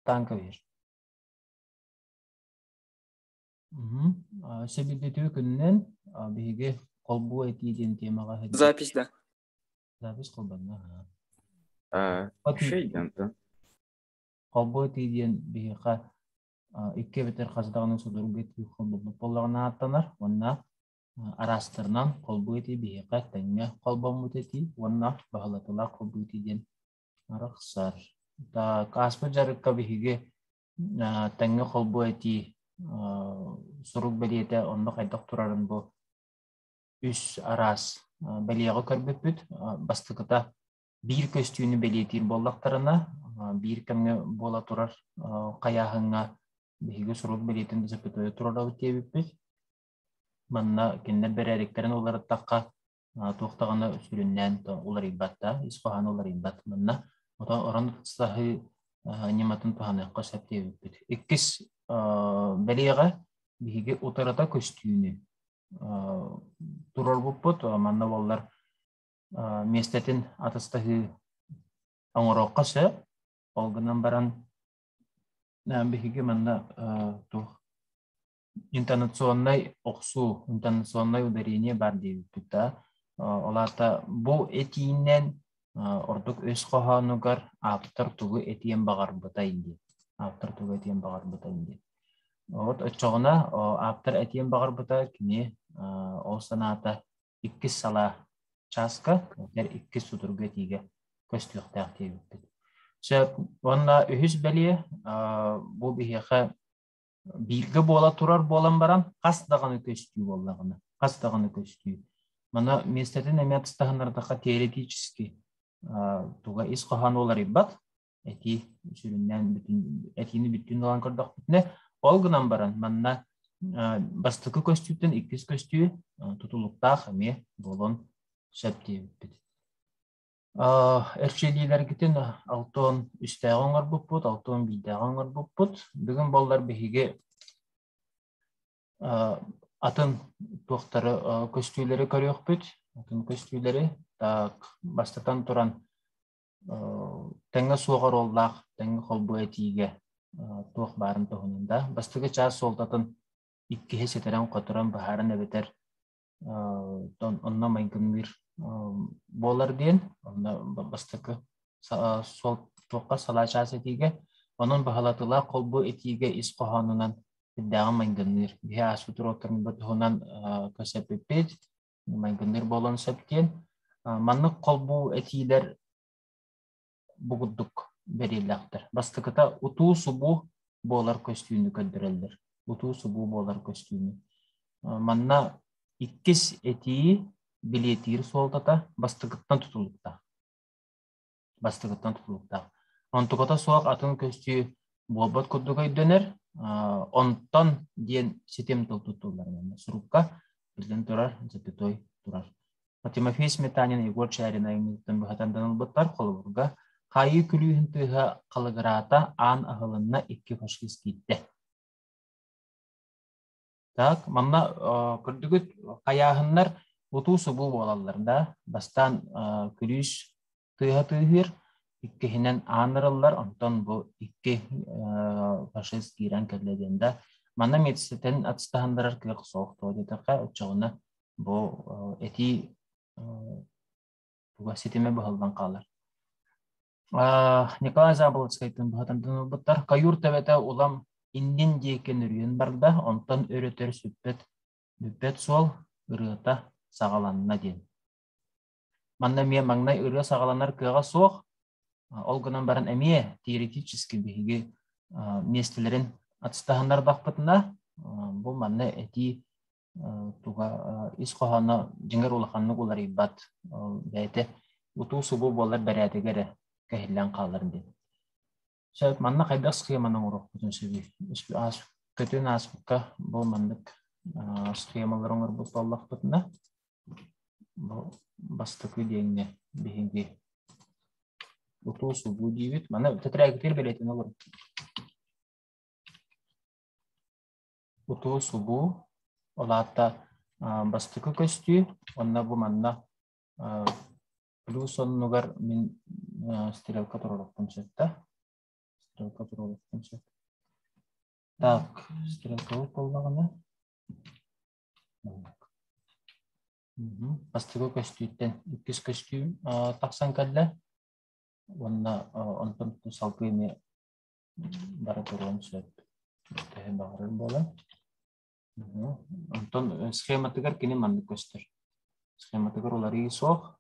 Танкович. Сэбирдитүү күнүнэн биһиги холбуу этии диэн тиэмэҕэ сылдьар. Запись, да. Запись холбанна. Вообще Холбуу этии диэн биһиэхэ икки эбэтэр хас даҕаны судургу этии холбоммут буоллаҕына ааттанар уонна араастарынан холбуу этии биһиэхэ тэҥҥэ холбоммут этии уонна баһылатылаах холбуу этии диэн Арахсар. Так, ааспыт дьарыкка биһиги а, тэҥҥэ холбуу этии а, сурук бэлиэтэ онно хайдах турарын бу үс араас а, бэлиэҕэ көрбүппүт. А, бастакыта биир көстүүнү бэлиэтиир буоллахтарына, а, биир кэмҥэ буола турар а, хайааһыҥҥа биһиги сурук бэлиэтин да запятое турарабыт диэбиппит. Манна кинилэр бэрээдэктэрин уларыттахха, туох даҕаны сүрүннээн уларыйбат да, ис хоһооно уларыйбат манна. Ото орон саһыы ньыматын туһаныахха сөп диэбиппит. Иккис бэлиэҕэ биһиги утарыта көстүүнү турарбыппыт. Манна боллар миэстэтин атыстаһыы оҥоруохха сөп. Ол гынан баран биһиги манна туох интонационнай охсуу, интонационнай ударение баар диэбиппит да, ол аата бу этиинэн ордук өс хоһоонугар ааптар тугу этиэн баҕарбытай диэн. Ааптар тугу этиэн баҕарбытай диэн. Вот оччоҕуна ааптар этиэн баҕарбыта кини ол санаата иккис салаа чааска, тэр иккис судургу этиигэ көстүөхтээх диэбиппит. Сөп. Уонна үһүс бэлиэ бу биһиэхэ бииргэ буола турар буолан баран хас даҕаны көстүү буоллаҕына хас даҕаны көстүү мана миэстэтин эмиэ атыстаһыннардахха теоретически туга ис хоһоон уларыйбат этии сүрүннээн бүтүн этиини бүттүүн ылан көрдөхпүтүнэ ол гынан баран манна бастакы көстүүттэн иккис көстүү тутулуктаах эмиэ буолуон сөп диэбиппит Эрчиллиилэргитин алтон үстээҕи оҥорбуппут, алтон биирдээҕи оҥорбуппут. Бүгүн буоллар биһиги атын туохтары көстүүлэри көрүөхпүт. Атын көстүүлэри так бастатан туран тэҥҥэ суох оруоллаах тэҥҥэ холбуу этиигэ туох баарын туһунан да бастакы чаас суолтатын иккиһи ситэрэн-хоторон быһааран эбэтэр онно майгынныыр буолар диэн онно бастакы суол туохха салаачаас этиигэ онон баһылатылаах холбу этиигэ ис хоһоонунан сирдээҕи майгынныыр биһи ааспыт уруоктарбыт туһунан көсөппүппүт майгынныыр буолан сөп диэн маннык холбу этиилэр бу курдук бэриллэхтэр. Бастакыта утуу-субуу буолар көстүүнү көрдөрөллөр. Утуу-субуу буолар көстүүнү. Манна иккис этии билиэтиир суолтата бастакыттан тутулуктаах. Бастакыттан тутулуктаах. Онтуката суох атын көстүү буолбат курдук өйдөнөр. Онтон диэн ситим тыл тутуллар. Сурукка биллэн турар, затитой турар. Тимофей Сметанин, Егор Чарин айымньытын быһатан ылбыттар холобурга хаайыы күлүүһүн тыаһа халыгыраата аан аһылынна икки фашист киирдэ. Так, манна көрдүгүт хайааһыннар утуу-субуу буолаллар да бастаан күлүүс тыаһа тыаһыыр, иккиһинэн аан ырыллар, онтон бу икки фашист киирэн кэллэ диэн да манна медситэн атыстаһыннарар кыах суох туо диэтэххэ оччоҕуна бу этии туга ситимэ быһыллан хаалар. Николай Заболоцкайтын быһатамдын ылбыттар. Каюр төбөтө улам иннин диэки нөрүйэн барда, онтон өрөтөр сүппэт бүппэт суол ырыата саҕаланна диэн. Манна эмиэ маҥнай ырыа саҕаланар кыаҕа суох, ол гынан баран эмиэ теоретически биһиги миэстэлэрин атыстаһыннарбаппытына, бу манна этии туга ис хоһооно дьиҥэр улаханнык уларыйбат, бэйэтэ утуу-субуу буолар бэрээдэги эрэ кэһиллэн хаалар диэн. Чэ, манна хайдах схеманы оҥоруохпутун сөбүй? Аас көтүн ааспыкка бу маннык а, схемалары оҥорбут буоллахпытына, бу бастакы диэҥҥэ биһиги утуу-субуу диибит. Маны тетрагитир бэлиэтин олору. Утуу-субуу, ол аата а, бастакы көстүү, онно бу манна а, Кулуу сонунугар мин стрелка туруорукпун сөппө. Стрелка туруорукпун сөп. Так, стрелковый буоллаҕына. Бастыгы көстүүттэн иккис көстүүм тахсан кэллэ. Уонна онтон салгыыны бары туруон сөп. Төһө баҕарар буолан. Онтон схематыгар кини маннык көстөр. Схематыгар уларыы суох,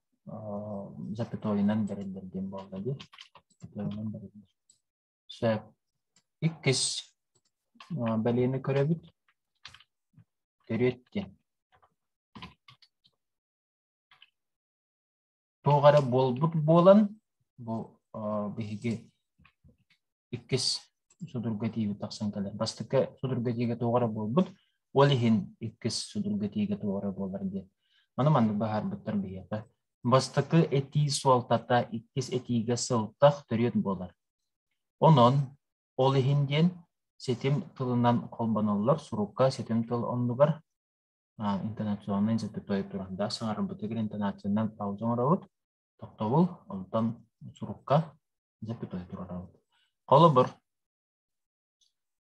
запятойунан бэриллэр диэн буолла дии. Запятойунан бэриллэр. Сөп. Иккис бэлиэни көрөбүт. Төрүөт диэн. туох эрэ буолбут буолан бу биһиги иккис судурга тиийбит тахсан кэлэр. Бастакы судурга тиийгэ туох эрэ буолбут, ол иһин иккис судурга тиийгэ туох эрэ буолар диэн. Маны маннык быһаарбыттар биһиэхэ. Бастакы этии суолтата иккис этиигэ сылтах төрүөт буолар. Онон ол иһин диэн ситим тылынан холбоноллор сурукка ситим тыл оннугар интонационнай запятое туран да саҥарбытыгар интонациянан пауза оҥоробут тохтобул онтон сурукка запятое турарабыт холобур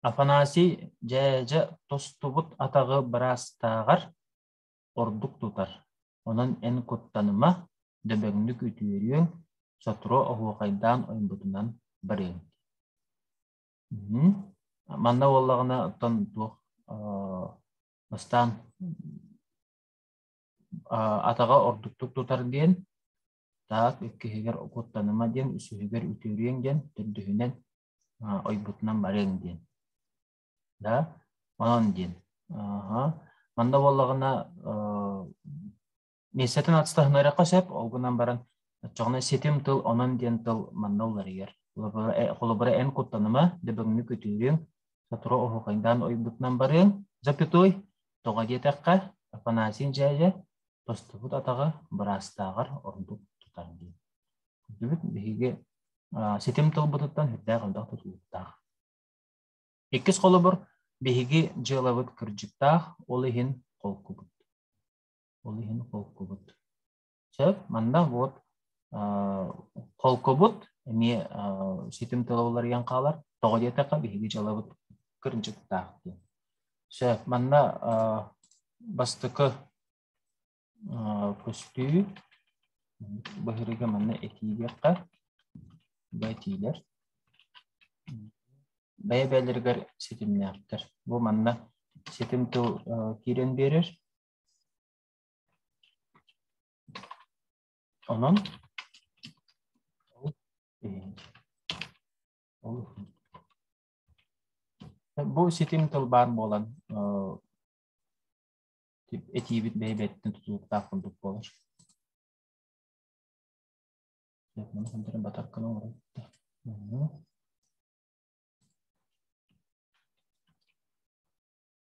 Афанасий дьээдьэ тостубут атаҕы быраастааҕар ордук тутар онон эн куттаныма дөбөҥнүк үтүөрүөҥ сотору оһуохайдаан ойбутунан барыаҥ манна буоллаҕына оттон туох Бастаан атаҕа ордуктук тутар диэн, таак иккиһигэр куттаныма диэн, үсүһүгэр үтүөрүөҥ диэн, төрдүһүнэн ойбутунан барыаҥ диэн. Да, онон диэн. Манна буоллаҕына Миэстэтин атыстаһынарыахха сөп, ол гынан баран оччоҕуна ситим тыл онон диэн тыл манна уларыйар. Холобура, э, холобура эн куттаныма, дөбөҥнү күтүрүөҥ, сотору оһуохайдаан ойбутунан барыаҥ, запятой, тоҕо диэтэххэ, Афанасий дьээдьэ, тостубут атаҕа быраастааҕар ордук тутар диэн. Көрдүбүт биһиги а, ситим тылбытыттан сүрдээх элбэх тутулуктаах. Иккис холобур, биһиги дьыалабыт кырдьыктаах, ол иһин холкубут. Ол иһин холкубут. Чэ, манна вот холкубут эмиэ ситим тыла уларыйан хаалар. Тоҕо диэтэххэ биһиги дьалабыт кырдьыктаах диэн. Сөп, манна бастакы көстүү быһырыга манна этии диэххэ бэтиилэр бэйэ-бэйэлэригэр ситимнээхтэр. Бу манна ситим тыл киирэн биэрэр. Онон бу ситим тыл баар буолан этиибит бэйбэттин тутулуктаах курдук буолар. Маны хандырын батарканы оҥоройт.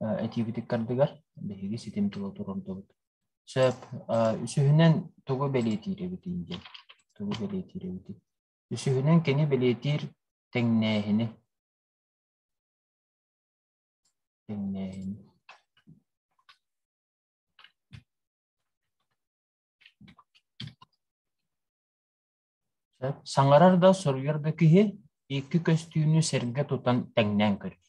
этиибитик кардыгар биһиги ситим тула турардыбыт. Сөп. Үсүһүнэн тугу бэлиэтиирэбитин диэн. Тугу бэлиэтиирэбитин. Үсүһүнэн кини бэлиэтиир тэҥнээһини. Тэҥнээһини. Саҥарар да, суруйар да киһи икки көстүүнү сэргэ тутан тэҥнээн көрөр.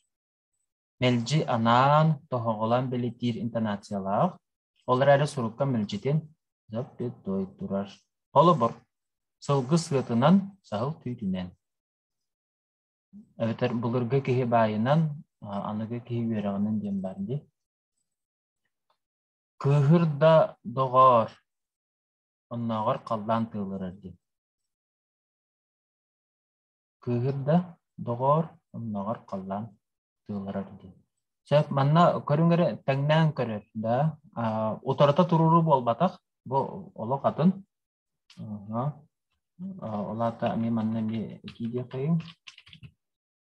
Мэлдьи анаан, тоһоҕолоон бэлэтиир интонациялаах, ол эрээри сурукка мэлдьитин «зап-дыт-туой» турар. Холобур, сылгы сыатынан, саһыл түүтүнэн. Эбэтэр былыргы киһи баайынан, аныгы киһи үөрэҕинэн диэн баар дии. Кыыһыр да доҕоор, Оннооҕор халлаан тыалырар дии Кыыһыр да, доҕоор, оннооҕор халлаан тыалырар дии Чэ, манна көрүҥ эрэ тэҥнээн көрөр да, аа, утарыта туруоруу буолбатах, бу олох атын. Аха. Ол аата эмиэ манна эмиэ этии диэххэйиҥ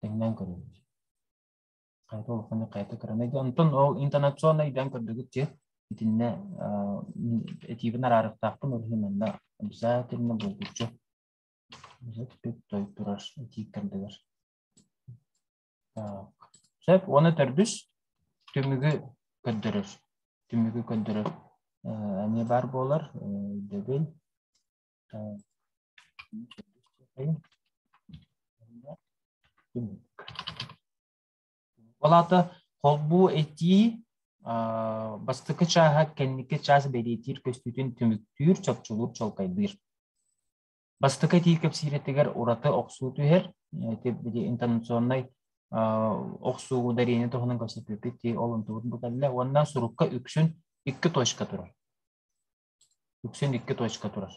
Тэҥнээн көрөбүт. Хайата улаханнык хайата кыранай да. Онтон ол интонационнай дьаҥ көрдүгүт ти. Итиннэ этиибин араарыктаахпын ол иһин манна обязательно булгучу. Обязательно той тураш этиик тардыгар. Сөп уонна төрдүс түмүгү көрдөрөр. Түмүгү көрдөрөр эмиэ баар буолар. Өйдөбүл. Түмүк. Ол аата холбуу этии бастакы чааһа кэнники чаас бэлиэтиир көстүүтүн түмүктүүр, чопчулуур, чолкайдыыр. Бастакы этии кэпсиирэтигэр ураты охсуу түһэр. Ити били интонационнай охсуу дариэни туһунан кэпсэтиибит ол онтубут буталла уонна сурукка үксүн икки точка турар. Үксүн икки точка турар.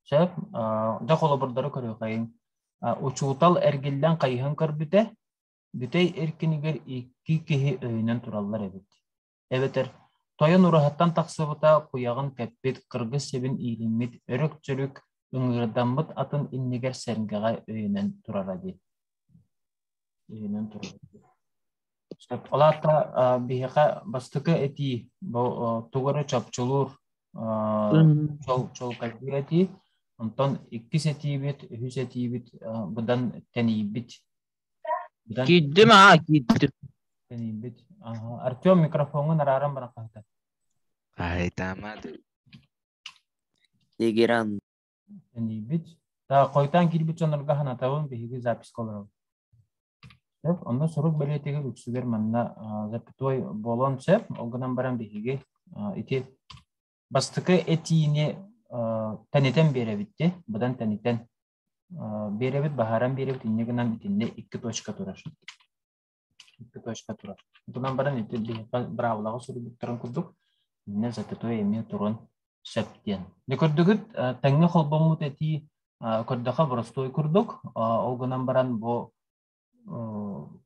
Сөп, да холобурдары көрүөхэйин. Учуутал эргиллэн хайыһан көрбүтэ, бүтэй эркинигэр икки киһи өйүнэн тураллар эбит. эбэтэр тойон ураһаттан тахсыбыта куйаҕын кэппит кыргыс сибин иилиммит өрүк-дьүрүк ыҥыырдаммыт атын иннигэр сэргэҕэ өйөнөн турара дии өйөнөн турара сөп ол аата биһиэхэ бастакы этии бу тугу эрэ чопчулуур чолкайдыыр этии онтон иккис этиибит үһүс этиибит быдан тэнийбит Киирдим аа киирдим. Тэнийбит. Артем микрофоҥҥун арааран баран хаһыта. Хаһыйтаама Тегеран. Тэнийбит. Да хойтаан киирбит дьоннорго ханатабын биһиги записка олоробут. Сөп, онно сурук бэлиэтигэр үксүгэр манна запятой буолуон сөп. Ол гынан баран биһиги ити бастакы этиини тэнитэн биэрэбит де, быдан тэнитэн Биэрэбит баһааран биэрэбит инньэ гынан итиннэ икки точка турар. Икки точка турар. Тунан баран ити биһиэхэ быраабылаҕа суруйбуттарын курдук иннэ зачетуй эмиэ туран сөп диэн. Дэ көрдүгүт тэҥҥэ холбоммут этии көрдөхө боростуой курдук. Ол гынан баран бу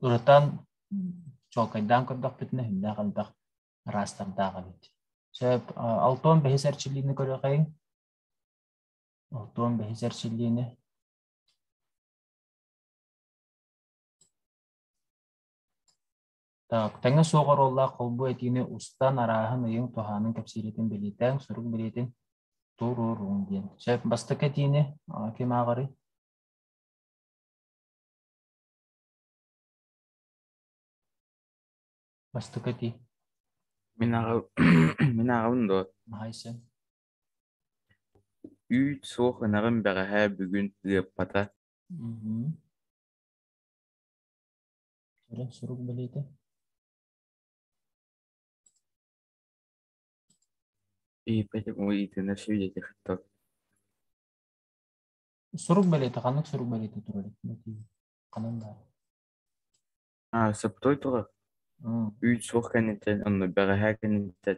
ырытан чолкайдаан көрдөхпүтүнэ хүннээх элбэх ыраастардаах эбит. Сөп, алтон бэһис эрчиллиини көрүөхэйиҥ. Артуон бэһис эрчиллиини Так, тэҥэ суох оруоллаах холбуу этиини устан арааһын, ыйыҥ, туһаанын кэпсииритин бэлиэтээн, сурук бэлиэтин туруоруҥ диэн. Сөп, бастакы этиини а, ким ааҕарый? Бастакы этии. Мин ааҕабын мин ааҕабын дуо? Маайсын. Үүт суох ынаҕым бэҕэһээ бүгүн ыаппата Мгм. Орон сурук бэлиэтэ. Ии, поэтому итиннэр свидетельство. Сурук бэлиэтэ ханнык сурук бэлиэтэ турар этиҥ? Ханан баар? А, саптуой тула М, үүт суох кэнниттэн онно бэҕэһээ кэнниттэн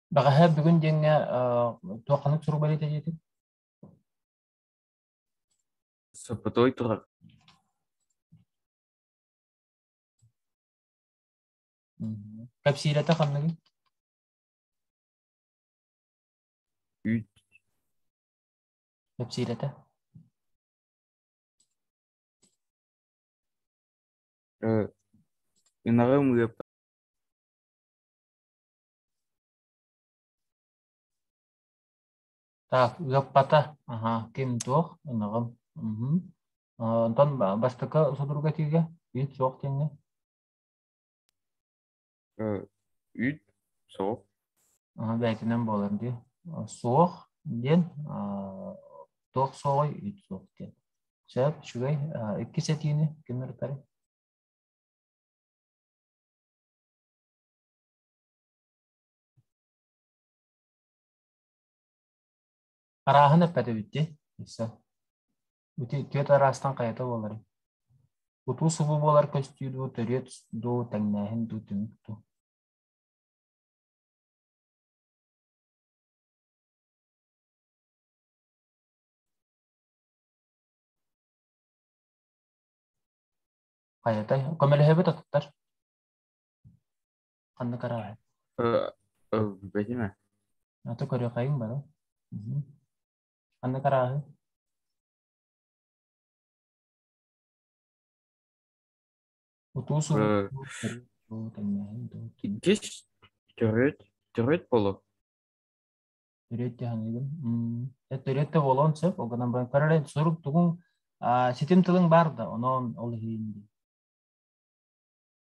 Бэҕэһээ бүгүн диэҥҥэ туохханык сурук бэлиэтэ диэтин? Сопотой турар. Кэпсиирэтэ ханныгый? Үүт. Кэпсиирэтэ. Ынаҕы ымыыппат Так, ыаппата, аһа, ким туох, ынаҕым. мм. Э, Онтон ба- бастакы судургу этиигэ үүт суох диэҥҥэ. Э, Үүт суох. Аһа, бэйэтинэн буолар дии. Э, Суох диэн, аа, туох суоҕай, үүт суох диэн. Сөп, үчүгэй. Э, Иккис этиини ким ырытарый? Арааһын эппэтэбит дии. Билсэн. Ити түөрт араастан хайата буоларын. Утуу субу буолар көстүү дуу, төрүөт дуу, тэҥнээһин дуу, түмүк дуу. Хайатай? Көмөлөһөбүт атыттар. Ханна көрөҕүн? Э, э, Бэтимэ, Аты көрүөхэйиҥ бары. Мгм. Ханна карааһы? Утуу суһуу э, уу тэҥнэһин дуу киһис төрүт төрүт болу төрүөт дьаһаныгын э төрүөттэ буолуон сөп ол гынан баран көрөрөн сурук тугуҥ а, ситим тылың бар да онон ол иһин дии.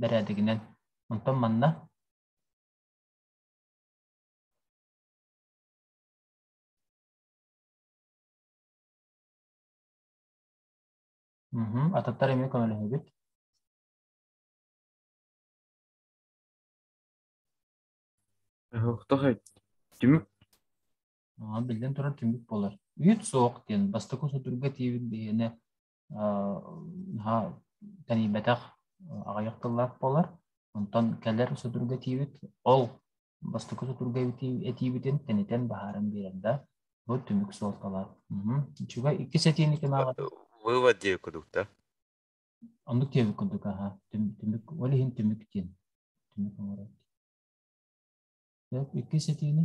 Бэрээдэгинэн. Онтон манна Мгм. Атыттар эмиэ көмөлөһөбүт. Ыһык, тоқой. Түмүк. А, биллэн турар түмүк буолар. Үүт суох диэн бастакы судурга тиийбит биһиэнэ тэнийбэтэх аҕыйах тыллаах буолар. Онтон кэлэр судургу этиибит ол бастакы судургу этиибитин тэнитэн баһааран биэрэр да бу түмүк суолталаах. Үчүгэй иккис этиини ким ааҕата? Вывод диэбит курдук да. Оннук диэбит курдук аха. Түмүк ол иһин түмүк диэн. Түмүк оҥорор. Иккис этиини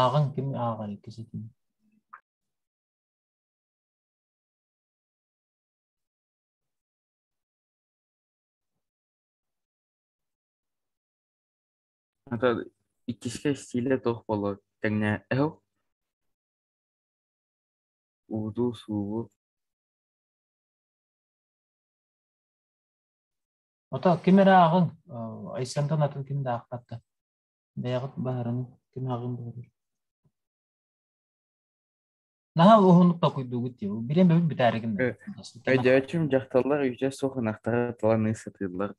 Ааҕан кими ааҕар иккиситин Ата иккискэ стилэ туох буолуой? Тэҥҥэ эһу, ууту, суубу. Ото ким эрэ ааҕыҥ, э, Айсантан атын ким да аахпаттар. Бэйэҕит баһарын ким аҕын баһарый? Наһаа уһуннук толкуйдуугут дии. Билэн бэбит бүтээригин да. Өйдөөчүм дьахталлар үтэ суох ынахтара таланыы сытыыллар.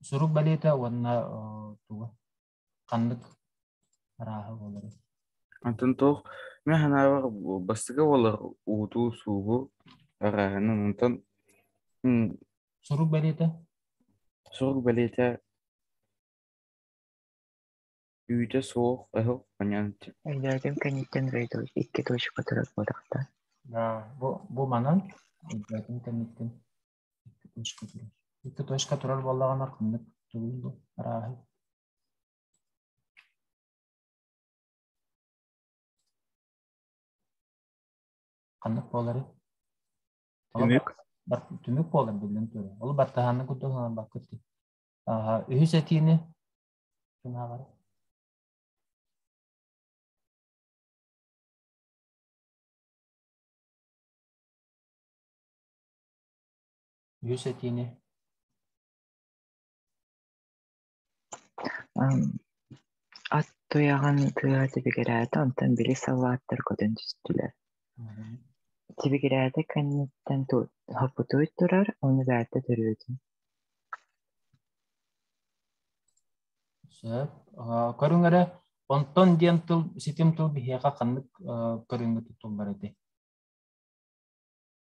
Сурук балета уонна туга? ханнык арааһа буоларын Антон туох мен санаабар бастакы буолар уутуу суугу арааһынан онтон м, сурук бэлиэтэ сурук бэлиэтэ үүтэ суох ыһык маньян Эллиаргын кэнниттэн Рейдо икки точка турар буолахта да бу бу манан элбээтин кэнниттин Икки точка турар буоллаҕына ханнык төгүл бу арааһы ханнык буоларый? Түмүк. Бар, түмүк буолар биллэн турар. Ол баттаһаанны курдук санаан баккыт дии. Аха, үһүс этиини ким ааҕар? үс этиини Ат туйаҕын тыаһа тибигирээтэ, онтон били саллааттар көтөн түстүлэр. Тибигирээтэ кэнниттэн ту- хоппутуй турар, ону бээтэ төрөөтүн. Сөп. Э, көрүҥ эрэ, онтон диэн тыл, ситим тыл биһиэхэ ханнык э, көрүҥҥэ тутуллар этий?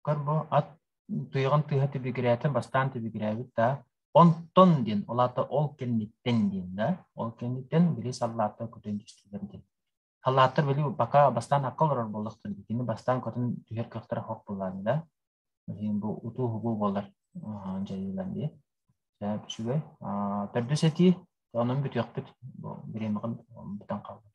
Корбо ат туйаҕын тыаһа түбүгүрээтэ, бастаан түбүгүрээбит да, онтон диэн, ол аата ол кэнниттэн диэн да, ол кэнниттэн били саллааттар көтөн түстүлэр диэн. Саллааттар били пока бастаан акка олорор боллохтор, кини бастаан көтөн түһэр кыахтара хох буллааны да, билин бу утуу хугуу болар дьайыылан дии. Үчүгэй. Төрдүс этии, онон бүтүөхпүт. Бириэмэҕин бутан хаалбыт.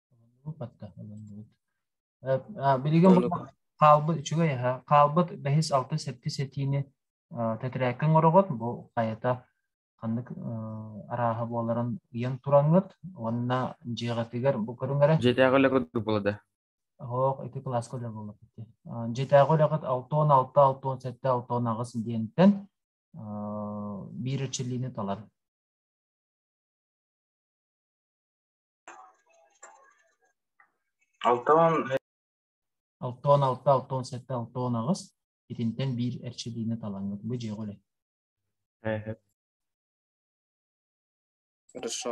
Билигин хаалбыт үчүгэй аһа хаалбыт бэһис алта сэттис этиини тэтэрээккэ оҥороҕут бу хайата ханнык арааһа буоларын ыйан тураҥҥыт уонна дьиэҕитигэр бу көрүҥ эрэ дьиэтээҕи үлэ курдук буолада оһох ити кылааска үлэ буолар дьиэтээҕи үлэҕит алтон алта алтон сэттэ алтон аҕыс диэнтэн биир эрчиллиини талар Алтан алтон алта алтон сэттэ алтон аҕыс итинтэн биир эрчилиини талаҥҥыт бу дьиэҕэ үлэ Хорошо.